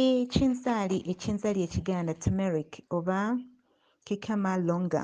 ekinzaali ekinzaali ekiganda turmeric oba kikama longa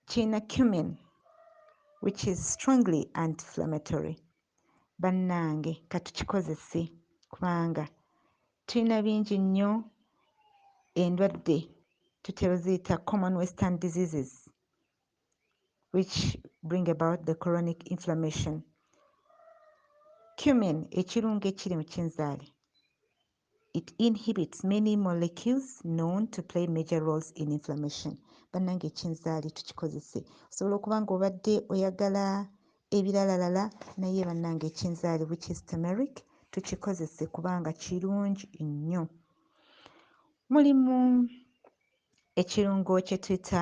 kirina cumin which is strongly anti-inflammatory bannange katukikozese kubanga tulina bingi nnyo endwadde tutera oziyita common western diseases which bring about the chronic inflammation. Cumin, ekirungo ekiri mu kinzaali, it inhibits many molecules known to play major roles in inflammation. Bannange ekinzaali tukikozese. Osobola okuba ng'obadde oyagala ebiralalala naye bannange ekinzaali which is turmeric tukikozese kubanga kirungi nnyo. Mulimu ekirungo kye tuyita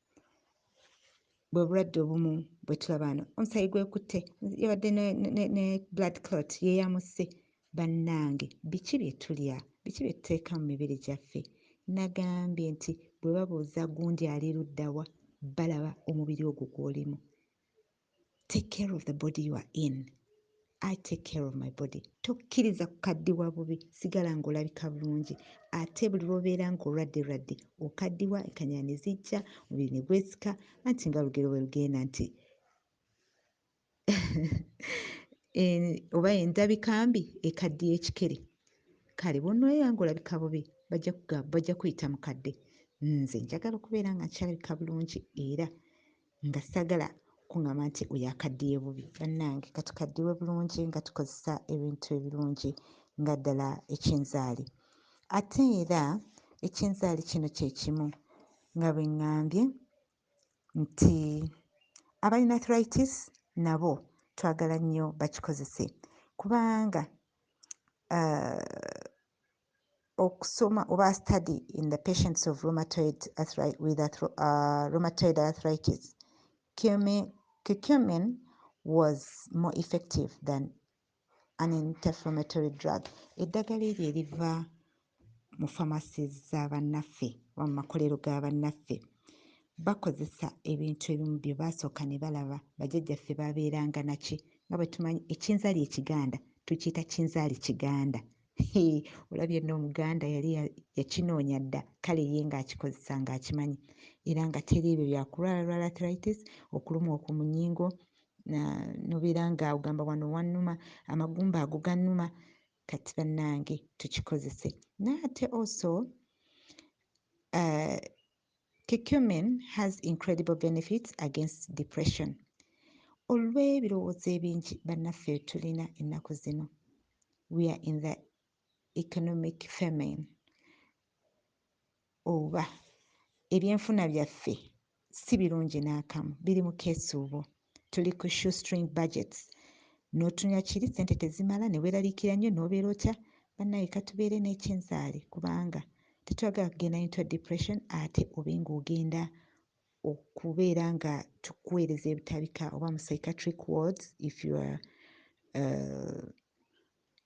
bwe bulwadde obumu bwe tulaba wano omusayi gwekutte yabadde ne, ne, ne, ne blood clot yeyamusse bannange biki bye tulya biki bye tuteeka mu mibiri gyaffe nagambye nti bwe babuuza gundi ali luddawa balaba omubiri ogwo gwolimu take care of the body you are in i take care of my body tokkiriza kukaddiwa bubi sigala ng'olabika bulungi ate buli lwobeera ng'olwadde lwadde okaddiwa enkanya ne zijja omubiri ne gwesika anti nga lugero bwe lugenda nti oba endabika mbi ekaddiye ekikere kale bwonoobeera ng'olabika bubi bajja kuyita mukadde nze njagala okubeera nga nkyalabika bulungi era nga sagala kungamba nti oyo akaddiye bubi bannange katukaddiwe bulungi nga tukozesa ebintu ebirungi nga ddala ekinzaali ate era ekinzaali kino kyekimu nga bwe ŋŋambye nti abalina athritis nabo twagala nnyo bakikozese kubanga uh, okusoma oba study in the patients of rheumatoid arthritis, with arthro, uh, rheumatoid arthritis cumin, curcumin was more effective than an interflammatory drug eddagala eryo eriva mu famasi za bannaffe oba mu makolero ga bannaffe bakozesa ebintu ebimu bye baasooka ne balaba bajajjaffe babeeranga naki nga bwe tumanyi ekinzaali ekiganda tukiyita kinzaali kiganda olabye no omuganda yali yakinoonya dda kale ye ng'akikozesa ng'akimanyi era nga teri ebyo byakulwala lwala arthritis okulumwa okwo mu nyingo nobeera nga ogamba wano wannuma amagumba ago gannuma kati bannange tukikozese naye ate also uh, Curcumin has incredible benefits against depression. Olw'ebirowoozo ebingi bannaffe bye tulina ennaku zino, we are in the economic famine oba ebyenfuna byaffe si birungi n'akamu biri mu keesuubo. tuli ku shoestring budgets n'otunula kiri ssente tezimala ne weeraliikira nnyo n'obeera otya bannaaye katubeere n'ekinzaali kubanga tetwagala kugenda into depression ate obe ng'ogenda okubeera nga tukuweereza ebitabika oba mu psychiatric wards if you are uh,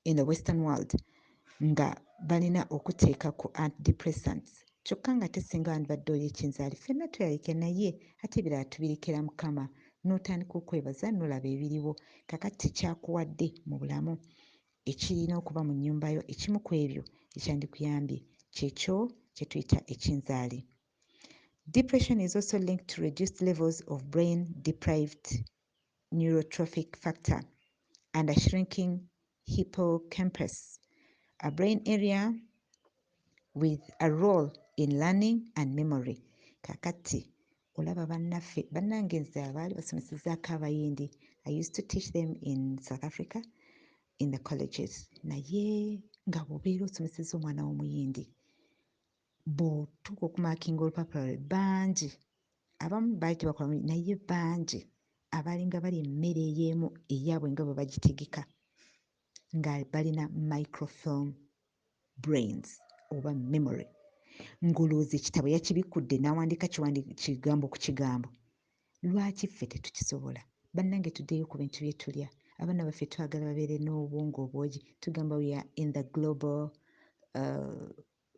in the western world nga balina okuteeka ku antidepressants kyokka nga te singa wandibadde oli ekinzaali ffenna tulalike naye ate ebirala tubirekera mukama n'otandika okwebaza n'olaba ebiriwo kakati kyakuwadde mu bulamu ekirina okuba mu nnyumba yo ekimu ku ebyo ekyandikuyambye kyekyo kye tuyita ekinzaali depression is also linked to reduced levels of brain deprived neurotrophic factor and a shrinking hippocampus, a brain area with a role in learning and memory. Kakati, olaba bannaffe bannange nze abaali basomesezzaako abayindi i used to teach them in south africa in the colleges naye nga bwobeera osomeseza omwana w'omuyindi bw'otuuka okumakinga olupapula lwe bangi abamu baali tebakola bulungi naye bangi abalinga bali emmere ey'emu eyaabwe nga bwe bagitegeka nga balina microfilm brains oba memory ng'olowooza ekitabo yakibikkudde n'awandiika kigambo ku kigambo lwaki ffe tetukisobola bannange tuddeyo ku bintu bye tulya abaana baffe twagala babeere n'obwongo obwogi tugamba we are in the global uh,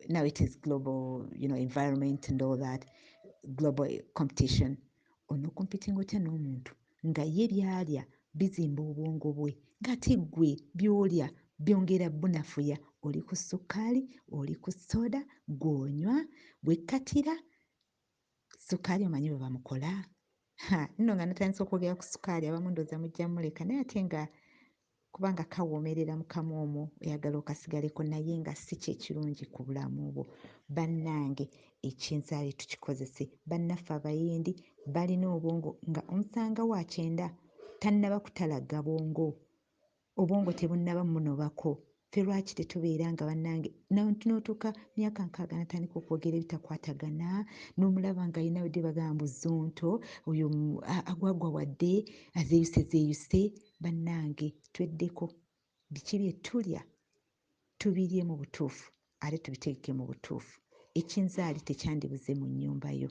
now it is global you know environment and all that global competition ono competing otya n'omuntu nga ye byalya bizimba obwongo bwe ngate gwe byolya byongera bunafuya oli ku sukkaali oli ku soda gwonywa gwekkatira Sukaali omanyi bwe bamukola? Ha, nno nga natandise okwogera ku sukaali abamu ndooza mujja muleka naye ate nga kubanga kawoomerera mu kamwa omwo oyagala okasigaleko naye nga si kyekirungi ku bulamu bwo bannange ekinzaali tukikozese bannaffe abayindi balina obwongo nga omusanga wa kyenda tannaba kutalagga bwongo obwongo tebunnaba munobako ffe lwaki tetubeera nga bannange n'otuuka myaka nkaaga natandika okwogera ebitakwatagana n'omulaba nga alina wedde bagamba mbu zonto oyo agwagwa wadde azeeyuse zeeyuse bannange tweddeko biki bye tulya tubirye mu butuufu ate tubitegeke mu butuufu ekinzaali tekyandibuze mu nnyumba yo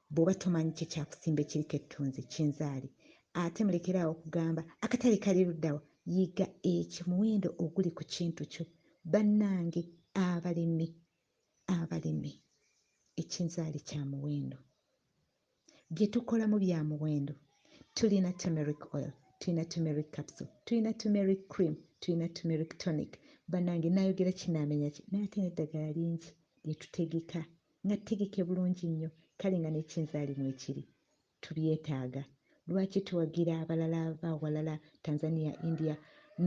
Bwoba tomanyi kye kyakusimba ekiriko ettunzi, kinzaali. Ate mulekere awo okugamba, akatale kali ludda wa? Yiga eki muwendo oguli ku kintu kyo. Bannange abalimi, abalimi, ekinzaali kya muwendo. Bye tukolamu bya muwendo. Tulina turmeric oil, tulina turmeric capsule, tulina turmeric cream, tulina turmeric tonic. Bannange nayogera ki namenya ki? Naye ate n'eddagala lingi lye tutegeka Nga ttegeke bulungi nnyo, kale nga n'ekinzaali mwekiri. Tubyetaaga. Lwaki towagira abalala ava walala, Tanzania, India,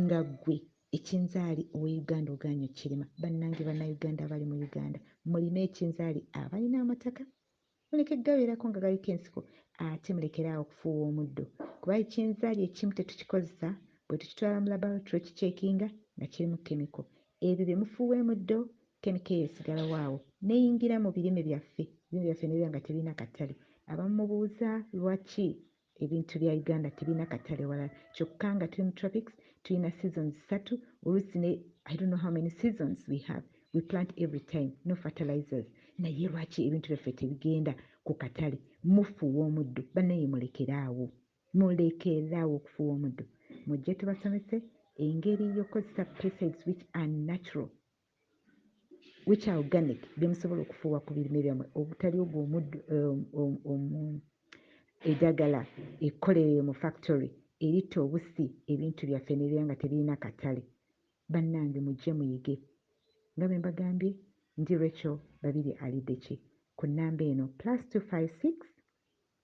nga ggwe ekinzaali owe Uganda ogaanyi okirima? Bannange Bannayuganda abali mu Uganda, mulime ekinzaali abalina amataka muleke gabeerako nga galiko ensiko ate mulekere awo okufuuwa omuddo kuba ekinzaali ekimu tetukikozesa bwetukitwala mu laboratory okikyekinga nga kirimu chemical. Ebyo bye mufuuwa emuddo Ken Keeya sigalawo awo neyingira mu birime byaffe, ebirime byaffe nebiba nga tebirina katale. Abamu mubuuza lwaki ebintu bya Uganda tebirina katale walala kyokka nga tuli mu tropics tulina seasons ssatu oluusi ne I don't know how many seasons we have, we plant every time, no fertilizers naye lwaki ebintu byaffe tebigenda ku katale? Mufuuwa omuddo banaye mulekere awo, mulekere awo okufuuwa omuddo. Mujje tubasomese engeri y'okukozesa pesticides which are natural. which are organic bye musobola okufuuwa ku birime byammwe obutali ogwo omuddu um, um, um, eddagala ekkolerere mu factory eritta obusi ebintu byaffe nebeera nga tebirina katale bannange mujje muyige nga bwe mbagambye ndi rachel babiri alideki ku nnamba eno plus 256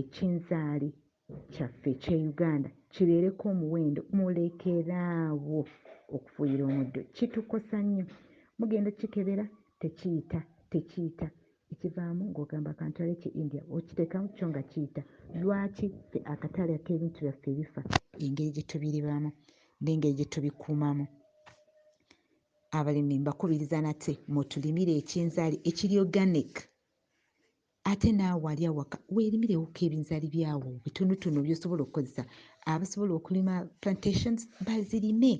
ekinzaali kyaffe ekye Uganda kibeereko omuwendo mulekere awo okufuuyira omuddo kitukosa nnyo mugenda okukikebera tekiyita tekiyita ekivaamu ng'ogamba kantwale ki India okiteekamu kyo nga kiyita lwaki ffe akatale ak'ebintu byaffe ebifa engeri gye tubiribamu n'engeri gye tubikuumamu abalimi mbakubiriza nate mutulimire ekinzaali ekiri organic ate naawe ali awaka weerimirewoko ebinzaali byawo bitonotono byosobola okukozesa abasobola okulima plantations bazirime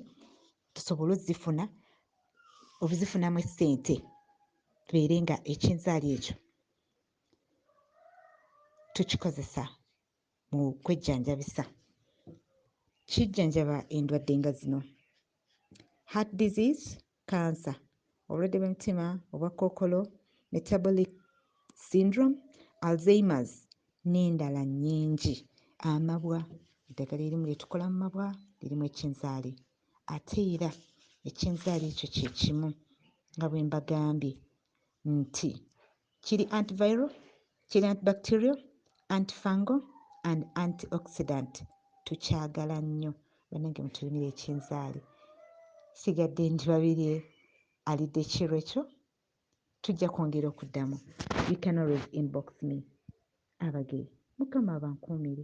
tusobole ozifuna obuzifunamu essente tubeere nga ekinzaali ekyo tukikozesa mu kwejjanjabisa kijjanjaba endwadde nga zino heart disease kkansa, obulwadde bw'emitima, obwa kookolo, metabolic syndrome, Alzheimer's n'endala nnyingi. Amabwa eddagala erimu lye tukola mu mabwa lirimu ekinzaali ate era ekinzaali ekyo kye kimu nga bwe mbagambye nti kiri antiviral, kiri antibacterial, antifungal and antioxidant tukyagala nnyo banange mutulimire ekinzaali sigadde ndi babirye alidde kiro ekyo tujja kwongera okuddamu you can always inbox me abage mukama abankuumire